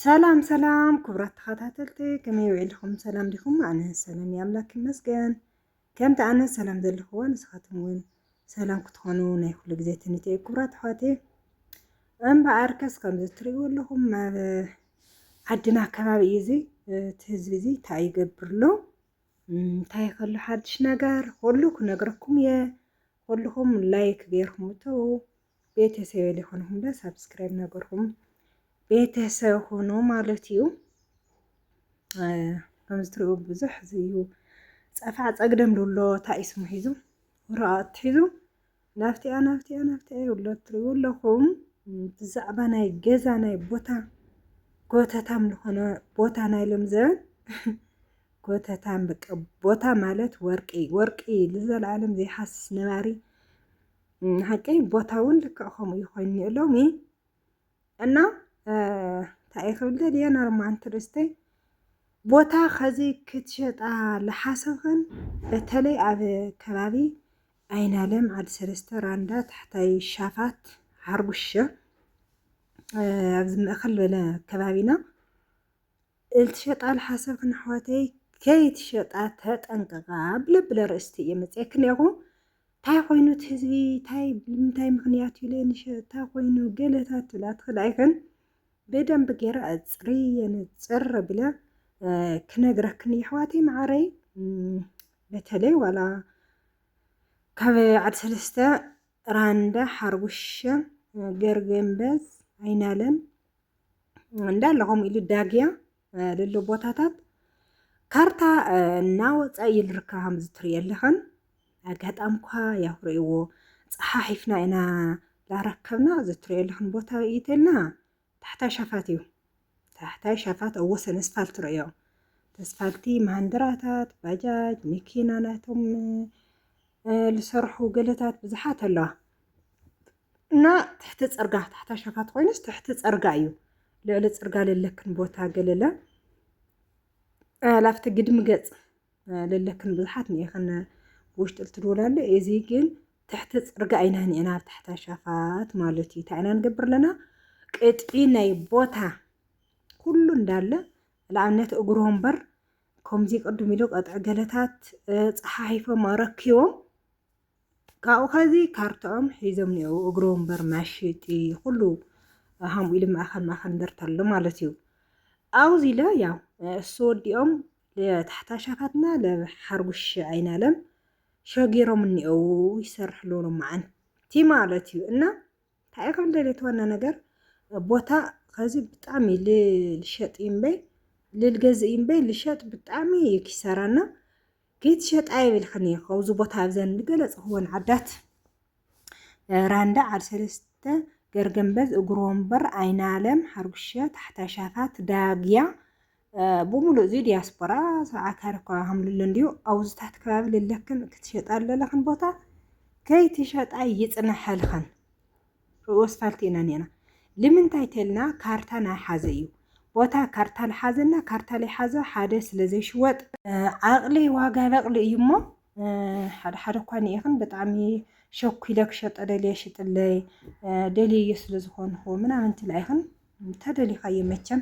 ሰላም ሰላም ክቡራት ተኸታተልቲ ከመይ ውዒልኹም ሰላም ዲኹም? ኣነ ሰላም እየ ኣምላክ ይመስገን። ከምቲ ኣነ ሰላም ዘለኹዎ ንስኻትኩም እውን ሰላም ክትኾኑ ናይ ኩሉ ግዜ ትንት እዩ ክቡራት ኣሕዋት እምበኣር ከስ ከምዚ እትሪእዎ ኣለኹም ኣብ ዓድና ከባቢ እዩ እዚ እቲ ህዝቢ እዚ እንታይ ይገብር ኣሎ እንታይ ከሎ ሓድሽ ነገር ኩሉ ክነግረኩም እየ ኩልኹም ላይክ ገይርኩም እተው ቤተሰብ ሊኾንኹም ዶ ሳብስክራይብ ነገርኩም ቤተሰብ ሆኖ ማለት እዩ። ከምዚ ትሪኡ ብዙሕ ዝዩ ፀፋዕ ፀግደም ዶሎ ታይ ስሙ ሒዙ ወረቐት ሒዙ ናብቲያ ናብቲያ ናብቲያ ይብሎ ትሪኡ ኣለኹም ብዛዕባ ናይ ገዛ ናይ ቦታ ጎተታም ዝኾነ ቦታ ናይ ሎም ዘበን ጎተታም በቃ ቦታ ማለት ወርቂ ወርቂ ልዘለዓለም ዘይሓስስ ነባሪ ንሓቂ ቦታ እውን ልክዕ ከምኡ እዩ ኮይኑ እኒኦ ሎሚ እና እንታይ እየ ክብል ደልየ ነርማን ትርስተይ ቦታ ከዚ ክትሸጣ ዝሓሰብክን በተለይ ኣብ ከባቢ ኣይናለም ዓዲ ሰለስተ ራንዳ ታሕታይ ሻፋት ሓርጉሸ ኣብዚ ምእኸል በለ ከባቢና እልትሸጣ ልሓሰብክን ኣሕዋተይ ከይትሸጣ ተጠንቀቃ ብለብለ ኣርእስቲ እየ መፅየክን እኒኣኹ እንታይ ኮይኑ እቲ ህዝቢ እንታይ ብምንታይ ምክንያት እዩ ለንሸጣ ኮይኑ ገለታት ትብላ ትኽእላ ኣይክን ብደንብ ገይረ ኣፅርየ ንፅር ብለ ክነግረክን የሕዋተይ መዓረይ በተለይ ዋላ ካብ ዓድ ሰለስተ ራንዳ ሓርቡሸ ገርገምበዝ ኣይናለም እንዳለ ከምኡ ኢሉ ዳግያ ልሎ ቦታታት ካርታ እናወፃኢ ይልርካ ከምዚ ትሪኢ ኣለኸን ኣጋጣሚ እኳ ያው ርእይዎ ፀሓሒፍና ኢና ላረከብና እዚ ትሪኦ ኣለኽን ቦታ ኢተልና ታሕታይ ሻፋት እዩ። ታሕታይ ሻፋት ኣብ ወሰን ኣስፋልት ርእዮ ተስፋልቲ ማሃንድራታት ባጃጅ መኪና ናይቶም ዝሰርሑ ገለታት ብዙሓት ኣለዋ እና ትሕቲ ፅርጋ ታሕታይ ሻፋት ኮይኑስ ትሕቲ ፅርጋ እዩ ልዕሊ ፅርጋ ለለክን ቦታ ገለለ ላፍቲ ግድሚ ገፅ ለለክን ብዙሓት ንኢኽን ብውሽጢ ልትድውላ ኣሎ እዚ ግን ትሕቲ ፅርጋ ኢና ኒዕና ኣብ ትሕታ ሻፋት ማለት እዩ እንታይ ኢና ንገብር ኣለና ቅጥዒ ናይ ቦታ ኩሉ እንዳለ ንኣብነት እግሮ እምበር ከምዚ ቅድም ኢሉ ቀጥዒ ገለታት ፀሓሒፎም ኣረኪቦም ካብኡ ኸዚ ካርታኦም ሒዞም ኒኦው እግሮ እምበር መሽጢ ኩሉ ሃምኡ ኢሉ ማእኸል ማእኸል እንደርታ ኣሎ ማለት እዩ ኣውዚ ኢለ ያው እሱ ወዲኦም ለታሕታሻታትና ለሓርጉሽ ኣይናለም ሸጊሮም እኒኦው ይሰርሕ ኣለዎ መዓንቲ ማለት እዩ እና እንታይ ከም ደልየት ዋና ነገር ቦታ ኸዚ ብጣዕሚ ልሸጥ እምበይ ልልገዝእ እምበይ ልሸጥ ብጣዕሚ እዩ ኪሳራና ከይትሸጣ ይብልክን እየ ካብዚ ቦታ ኣብዘን ዝገለፅኽወን ዓዳት ራንዳ ዓድ ሰለስተ ገርገንበዝ እግሮ ወንበር ኣይናለም ሓርጉሸ ታሕታ ሻፋት ዳግያ ብምሉእ እዚ ዲያስፖራ ሰዓታሪ እኳ ሃምልሎ እንዲዩ ኣውዝታት ከባቢ ልለክን ክትሸጣ ኣለለኽን ቦታ ከይትሸጣ ይፅነሐልኽን ርእዮ ኣስፋልቲ ኢና ኔና ልምንታይ ተልና ካርታ ናይ ሓዘ እዩ ቦታ ካርታ ልሓዘና ካርታ ልሓዘ ሓደ ስለ ዘይሽወጥ ዓቕሊ ዋጋ ለቕሊ እዩ እሞ ሓደ ሓደ እኳ ንኢኽን ብጣዕሚ ሸኩለ ክሸጦ ደልየ ሽጥለይ ደልየዮ ስለ ዝኾንኹ ምናምን ትላ ኢኽን ተደሊኻዮ መቸም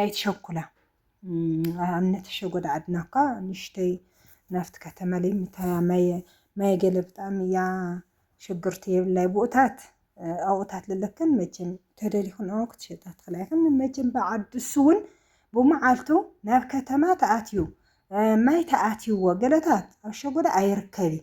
ኣይትሸኩላ ኣምነት ሸጎዳ ዓድና እኳ ንሽተይ ናፍት ከተማ ለይ ምታያ ማየ ማየ ገለ ብጣዕሚ እያ ሽግርቲ የብላይ ብኡታት ኣውኡታት ለለክን መቸም ተደሊኹን ኣዋ ክትሸጣ ትኽእላ ይኽን መቸም ብዓድሱ እውን ብመዓልቱ ናብ ከተማ ተኣትዩ ማይ ተኣትይዎ ገለታት ኣብ ሸጎዳ ኣይርከብ እዩ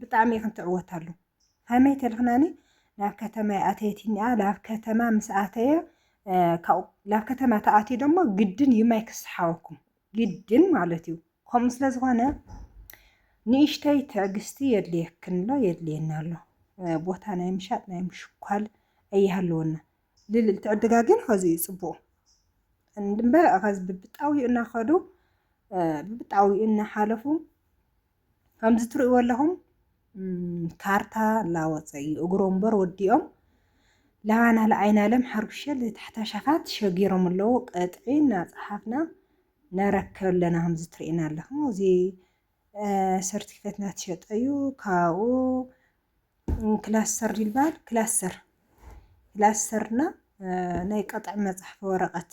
ብጣዕሚ ኢኽን ትዕወታሉ ሃመይ ተልኽናኒ ናብ ከተማ ኣተየት እኒኣ ናብ ከተማ ምስ ኣተየ ካብኡ ናብ ከተማ ተኣትዩ ደሞ ግድን እዩ ማይ ክስሓወኩም ግድን ማለት እዩ ከምኡ ስለ ዝኾነ ንእሽተይ ትዕግስቲ የድልየክን ኣሎ የድልየና ኣሎ ቦታ ናይ ምሻጥ ናይ ምሽኳል ኣይሃለወና ልልል ትዕድጋ ግን ኸዚ እዩ ፅቡቁ እምበር ኸዚ ብብጣዊኡ እናኸዱ ብብጣዊኡ እናሓለፉ ከምዚ ትርእይዎ ኣለኹም ካርታ ላወፀ እዩ እግሮ እምበር ወዲኦም ላባና ለኣይናለም ሓርጉሸል ታሕታ ሸፋት ሸጊሮም ኣለዉ ቀጥዒ እናፀሓፍና ነረከብ ኣለና ከምዚ ትርእይና ኣለኹም እዚ ሰርቲፊኬት ናትሸጠ እዩ ካብኡ ክላሰር ይልባል ክላሰር ክላሰርና ናይ ቀጥዒ መፅሓፊ ወረቐት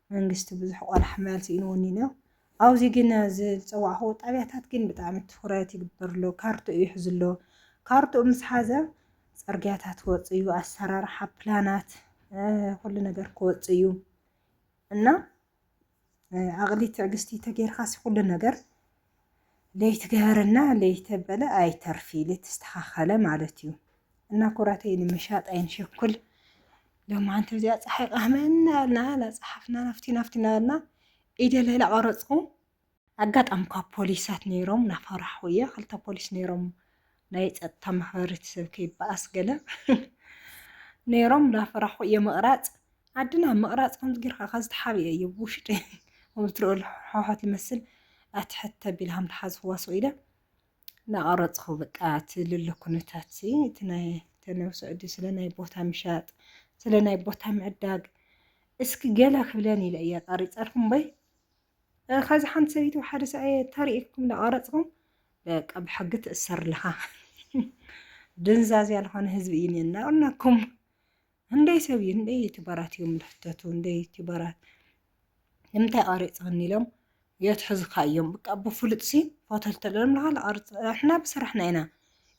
መንግስቲ ብዙሕ ቆላሕ ማል ስኢንዎኒ እኒኦ ኣውዚ ግን ኣዚ ዝጸዋዕክዎ ጣብያታት ግን ብጣዕሚ ትኩረት ይግበር ኣሎ ካርትኡ ይሕዝ ኣሎ ካርትኡ ምስ ሓዘ ጸርግያታት ክወጽእ እዩ ኣሰራርሓ ፕላናት ኩሉ ነገር ክወጽእ እዩ እና ኣቕሊ ትዕግስቲ ተገይርካሲ ኩሉ ነገር ለይቲ ገበረ እና ለይቲ ተበለ ኣይተርፊ ለይቲ ተስተኻኸለ ማለት እዩ እና ኩራተይ ንምሻጥ ኣይንሸኩል ሎም ኣንቲ እዚኣ ፀሓይ ቃህመና ያልና ናፀሓፍና ናፍቲ ናፍቲና ያልና ኢደ ሌላ ቀረፅኹ ኣጋጣሚ ካብ ፖሊሳት ነይሮም ናፈራሕኹ እየ ክልተ ፖሊስ ነይሮም ናይ ጸጥታ ማሕበረተሰብ ከይበኣስ ገለ ነይሮም እንዳፈራኹ እየ ምቕራጽ ዓድና ምቕራጽ ከምዚ ጌርካ ካብ ዝተሓብየ እዩ ብውሽጢ ከምዚ ትሪኦ ሕውሓት ይመስል ኣትሕት ተቢልሃም ተሓዝኽዋ ሰው ኢለ እናቐረፅኹ በቃ እቲ ልሎ ኩነታት ሲ እቲ ናይ ተነው ስዑዲ ስለ ናይ ቦታ ምሻጥ ስለ ናይ ቦታ ምዕዳግ እስኪ ገለ ክብለን ኢለ እየ ቀሪፀልኩም በይ ከዚ ሓንቲ ሰበይቲ ሓደ ሰብኣየ ተርእኩም እናቐረፅኹም በቃ ብሕጊ ትእሰር ኣለኻ። ድንዛዝያ ዝኾነ ህዝቢ እዩ እኒአና ቁናኩም ህንደይ ሰብ እዩ ህንደይ ዩቱበራት እዮም ዝሕተቱ ህንደይ ዩቱበራት ንምንታይ ቀሪፅኽኒ ኢሎም የትሕዙካ እዮም ብቃ ብፍሉጥ ሲ ፎቶ እንተለዎም ንኻል ቀርፅ ንሕና ብስራሕና ኢና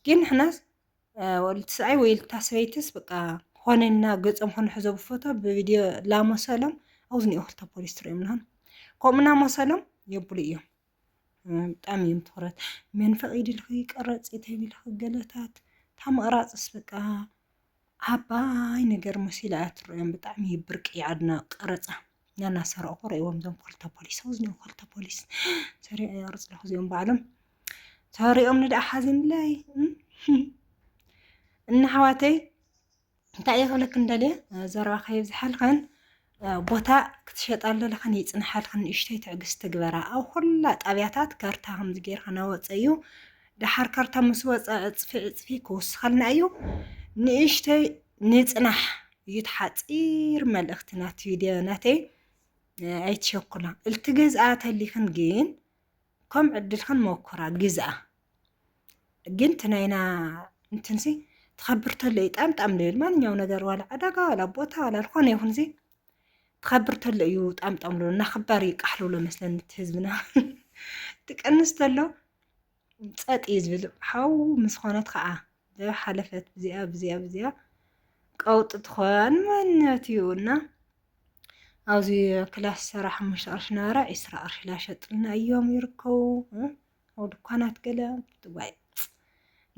ግን ንሕናስ ልትስዓይ ወይ ልታ ሰበይትስ ብቃ ኾነና ገፆም ክንሕዞ ብፎቶ ብቪድዮ ላመሰሎም ኣብዝኒኦ ክልተ ፖሊስ ትሪኦም ንሃን ከምኡና መሰሎም የብሉ እዮም ብጣዕሚ እዮም ትኹረት መን ፈቒድልኺ ቀረፂ ተቢልኺ ገለታት እታ መቕራፅስ በቃ ዓባይ ነገር መሲላ እያ ትረኦም ብጣዕሚ እዩ ብርቂ ዓድና ቀረፃ ናናሰረቑ ርእዎም እዞም ክልተ ፖሊስ ሰው ዝኒኦ ክልተ ፖሊስ ሰሪቕ የቕርፅ ኣለኹ እዚኦም ባዕሎም ተሪኦም ንደኣ ሓዚንለይ እና ኣሕዋተይ እንታይ እየ ክብለክን ደልየ ዘረባ ከይብዝሓልክን ቦታ ክትሸጣሉ ለኽን ይፅንሓልክን ንእሽተይ ትዕግስቲ ግበራ ኣብ ኩላ ጣብያታት ከርታ ከምዚ ጌርካ ናወፀ እዩ ደሓር ከርታ ምስ ወፀ ዕፅፊ ዕፅፊ ክውስኸልና እዩ ንእሽተይ ንፅናሕ እዩ ተሓፂር መልእኽቲ ናት ቪድዮ ናተይ ኣይትሸኩላ እልቲ ገዝኣ ተሊኽን ግን ከም ዕድል ክንሞክራ ግዝኣ ግን እቲ ናይና እንትንሲ ትኸብር ተሎ እዩ ጣም ጣም ልብል ማንኛው ነገር ዋላ ዕዳጋ ዋላ ቦታ ዋላ ዝኾነ ይኹን ዚ ትኸብር ተሎ እዩ ጣም ጣም ልብል እና ክባር እዩ ቃሕ ልብሎ መስለኒ እቲ ህዝብና ትቀንስ ተሎ ፀጥ እዩ ዝብል ሓው ምስ ኾነት ከዓ እዚኣ ሓለፈት ብዚኣ ብዚኣ ብዚኣ ቀውጢ ትኾን መነት እዩ እና ኣብዚ ክላስ ሰራ ሓሙሽተ ቅርሺ ነበረ ዒስራ ቅርሺ ላሸጥልና እዮም ይርከቡ ኣብ ድኳናት ገለ ዋይ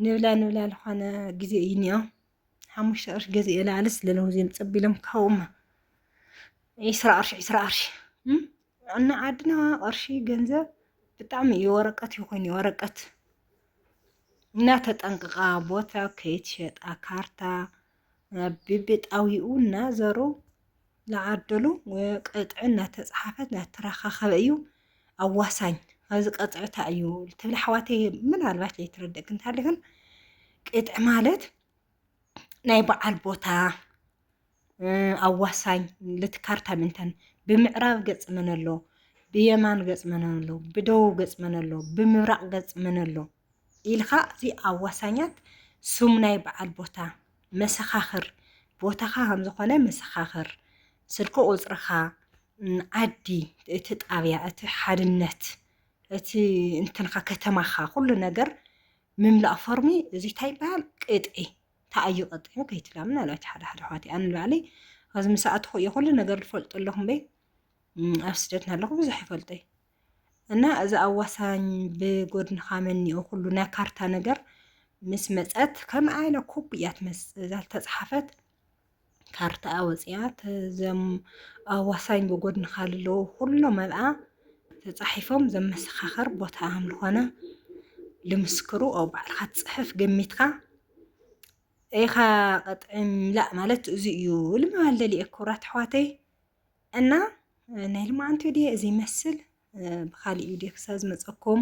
ንብላ ንብላ ዝኾነ ግዜ እዩ እኒኦ ሓሙሽተ ቅርሺ ገዚኤ ላዕሊ ስለለውዚኦም ፀቢሎም ካብኡማ ዒስራ ቅርሺ ዒስራ ቅርሺ እና ዓድና ቅርሺ ገንዘብ ብጣዕሚ እዩ ወረቀት ይኹን ወረቀት እና ተጠንቅቃ ቦታ ከይትሸጣ ካርታ ብብጣዊኡ እና ዘሩ ዝዓደሉ ቅጥዒ እናተፅሓፈት እናተረኻኸበ እዩ ኣዋሳኝ ኣብዚ ቀፅዕታ እዩ ትብል ሓዋተ ምናልባት ዘይትረደእ ክንታለክን ቅጥዒ ማለት ናይ በዓል ቦታ ኣዋሳኝ ልቲ ካርታ ምንተን ብምዕራብ ገጽ መን ኣሎ፣ ብየማን ገጽ መን ኣሎ፣ ብደቡብ ገጽ መን ኣሎ፣ ብምብራቕ ገጽ መን ኣሎ ኢልኻ እዚ ኣዋሳኛት ስም ናይ በዓል ቦታ መሰኻኽር ቦታኻ ከም ዝኾነ መሰኻኽር ስልኪ ቁጽርኻ ዓዲ እቲ ጣብያ እቲ ሓድነት እቲ እንትንኻ ከተማኻ ኩሉ ነገር ምምላእ ፎርሚ እዚ እንታይ ይበሃል ቅጥዒ ታይ ኣዩ ቀጢዑ ከይትላምን ኣላ እቲ ሓደ ሓደ ኣሕዋተይ ኣነ ንባዕለይ ኣብዚ ምስ ኣተኹ እየ ኩሉ ነገር ዝፈልጦ ኣለኹ እምበይ ኣብ ስደት ናለኹ ብዙሕ ይፈልጠይ እና እዚ ኣዋሳኝ ብጎድንኻ መኒኦ ኩሉ ናይ ካርታ ነገር ምስ መፀት ከምኣ ኢለ ኮብ እያ ትመፅእ እዛ ዝተፅሓፈት ካርታኣ ወፂኣ እዞም ኣዋሳኝ ብጎድንኻ ልለዉ ኩሎም ኣብኣ ተፃሒፎም ዘመሰኻኸር ቦታ ከምዝኾነ ልምስክሩ ኦ ባዕልኻ ትፅሕፍ ገሚትካ ኢኻ ቅጥዒ ምላእ ማለት እዚ እዩ ልምባል ደልየ ክብራት ኣሕዋተይ እና ናይ ልማዓንቲ ድየ እዚ ይመስል ብካሊእ ቪድዮ ክሳብ ዝመፀኩም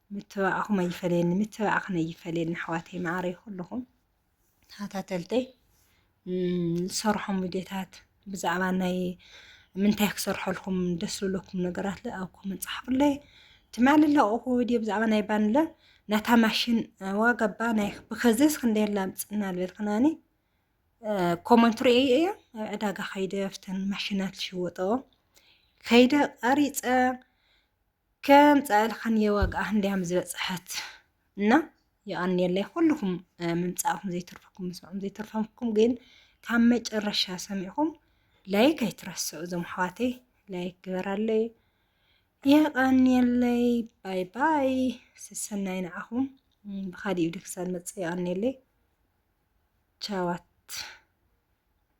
ምትባኣኩም ኣይፈለየኒ ምትባኣክን ኣይፈለየኒ ኣሕዋተይ መዓረይ ኩልኩም ተኸታተልተይ ዝሰርሖም ቪድዮታት ብዛዕባ ናይ ምንታይ ክሰርሐልኩም ደስ ዝብለኩም ነገራት ለ ኣብ ኮመን ፃሓፉለይ ትማሊ ለቕኹ ቪድዮ ብዛዕባ ናይ ባንለ ናታ ማሽን ዋጋ ባ ናይ ብከዘስ ክንደይ ላምፅና ዝበልክናኒ ኮመንት ርእየ እየ ኣብ ዕዳጋ ከይደ ፍተን ማሽናት ዝሽወጠኦ ከይደ ቀሪፀ ከም ጸልዓን የዋግኣ እንዲያም ዝበጽሐት እና የቀንየለይ ኩልኩም ምምጻእኩም ዘይትርፈኩም ምስምዑም ዘይትርፈኩም ግን ካብ መጨረሻ ሰሚዕኩም ላይክ ኣይትረስዑ እዞም ኣሕዋተይ ላይክ ግበራለይ የቀንየለይ ባይ ባይ ስሰናይ ንዓኹም ብካሊእ ቪድዮ ክሳብ መጽእ የቀንየለይ ቻዋት